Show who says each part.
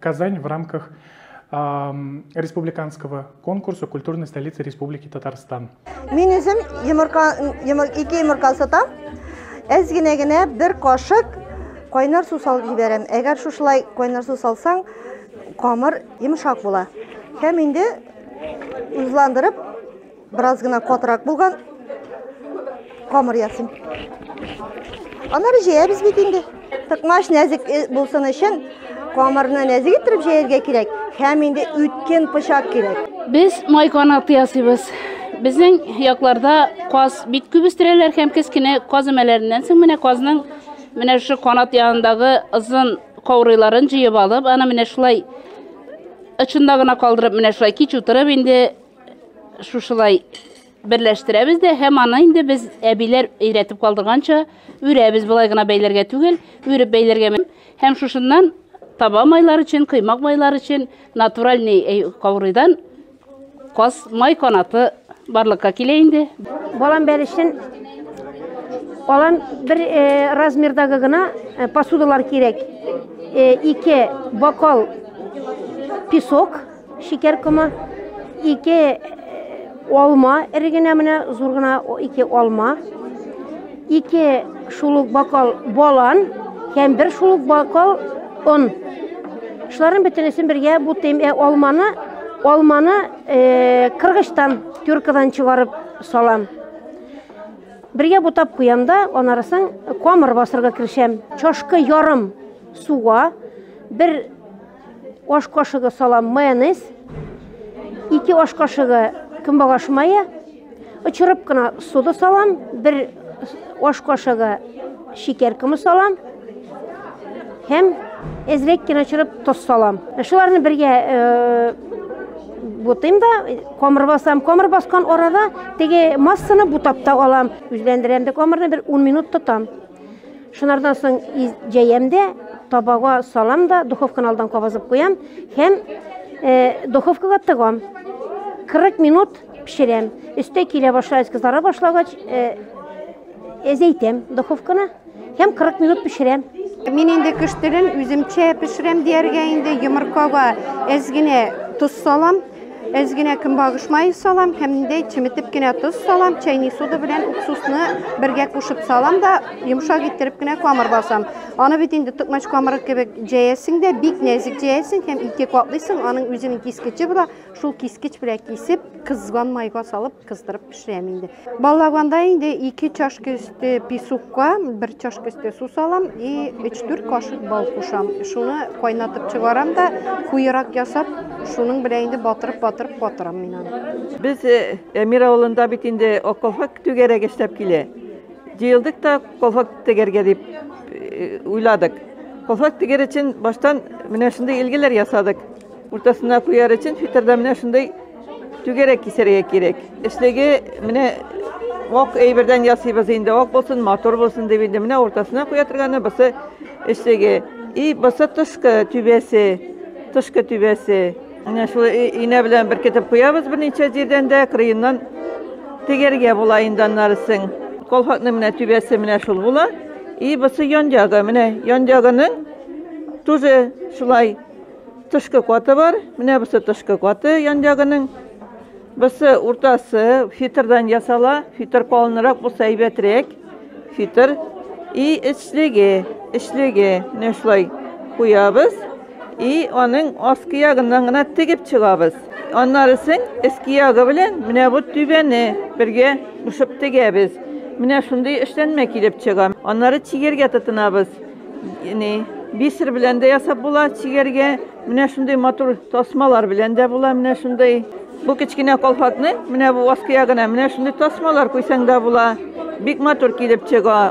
Speaker 1: Казань в рамках республиканского конкурса «Культурная столица Республики Татарстан». Мин үзем йомырка, йомыр, ике йомырка сатам. Әз генә генә бер кашык кайнар су салып җибәрәм. Әгәр шушылай кайнар су салсаң, камыр йомшак була. Һәм инде үзландырып Бераз гына катырак булган. Камыр ясыйм. Аннары җәябез бит инде. Тыкмач нәзек э, булсын өчен камырны нәзек иттереп җәяргә кирәк һәм инде үткен пычак кирәк. Без май канаты ясыйбыз. Безнең якларда каз бик күп үстерәләр һәм кечкенә каз өмәләреннән соң менә казның менә шушы канат янындагы озын каурыйларын җыеп алып, аны менә шулай ычында гына калдырып, менә шулай кич утырып инде шушылай берләштерәбез дә һәм аны инде без әбиләр өйрәтеп калдырганча үрәбез болай гына бәйләргә түгел үреп бәйләргә һәм шушыннан таба майлар өчен кыймак майлар өчен натуральный э, каурыйдан каз май канаты барлыкка килә инде балам бәлешен алан бер э, размердагы гына э, посудалар кирәк ике бокал песок Шикәр комы, ике алма, эре генә менә зур гына ике алма, ике шулук бокал балан һәм бер шулук бокал он. Шуларның бөтенесен бергә бутыйм. Ә алманы, алманы э, кыргычтан, тюркадан чыгарып салам. Бергә бутап куям да, анарысын камыр басырга керешәм. Чашка ярым суга, бер Аш кашыгы салам майонез, ике аш кашыгы көнбагыш мае, очырып кына сода салам, бер аш кашыгы шикәр комы салам һәм әзрәк кенә очырып тоз салам. Шуларны бергә э, бутыйм да, комыр басам. Комыр баскан арада теге массаны бутап та алам. Үзләндерәм дә комырны бер 10 минут тотам. Шунардан соң җәям дә, табага салам да, духовканы алдан кабызып куям һәм э, духовкага тыгам. 40 минут пешерәм. Өстә килә башлагач, кызара башлагач, э, әзәйтәм духовканы һәм 40 минут пешерәм. Мин инде көштелен үземчә пешерәм дияргә инде йомыркага әз генә тоз салам. Әз генә көнбагыш мае салам һәм ниндәй чеметеп кенә тоз салам, чәйни сода белән уксусны бергә кушып салам да йомшак иттереп кенә камыр басам. Аны бит инде токмач камыры кебек җәясең дә, бик нәзик җәясең һәм ике катлыйсың, аның үзенең кискече була, шул кискеч белән кисеп, кызган майга салып Кыздырып пешерәм инде. Баллаганда инде 2 чашка өсте песокка, 1 чашка өсте су салам и 3-4 кашык бал кушам. Шуны кайнатып чыгарам да, куерак ясап, шуның белән инде батырып-батырып катырам мин аны. Без э, Әмир авылында бит инде околфак түгәрәк эшләп килә. Җыелдык та колфак тегәргә дип э, уйладык. Колфак тегәр өчен баштан менә шундый илгеләр ясадык. Уртасына куяр өчен фитердә менә шундый Түгәрәк кисәргә кирәк. Эчлеге менә ок әйбердән ясыйбыз инде, ок булсын, матур булсын дип инде. Менә уртасына куя торганы бусы эчлеге. И бусы тышкы түбәсе, тышкы түбәсе. Менә шул инә белән беркетеп куябыз берничә җирдән дә, кырыеннан тегәргә була инде аннарысын. Колхакның менә түбәсе менә шул була. И бусы ян ягы, менә ян ягының тоже шулай Тышкы каты бар. Менә бусы тышкы каты янъягының. Бусы уртасы фитрдан ясала. Фитр калынрак булса әйбәтрәк. Фитр и эчлеге, эчлеге менә шулай куябыз. И аның аскы ягыннан гына тегеп чыгабыз. Аннары соң эске ягы белән менә бу түбәне бергә кушып тегәбез. Менә шундый эшләнмә килеп чыга. Аннары чигергә тотынабыз. Яни бисер белән дә ясап була чигәргә. Менә шундый матур тасмалар белән дә була. Менә шундый. Бу кечкенә колфакны, менә бу аскы ягына, менә шундый тасмалар куйсаң да була. Бик матур килеп чыга.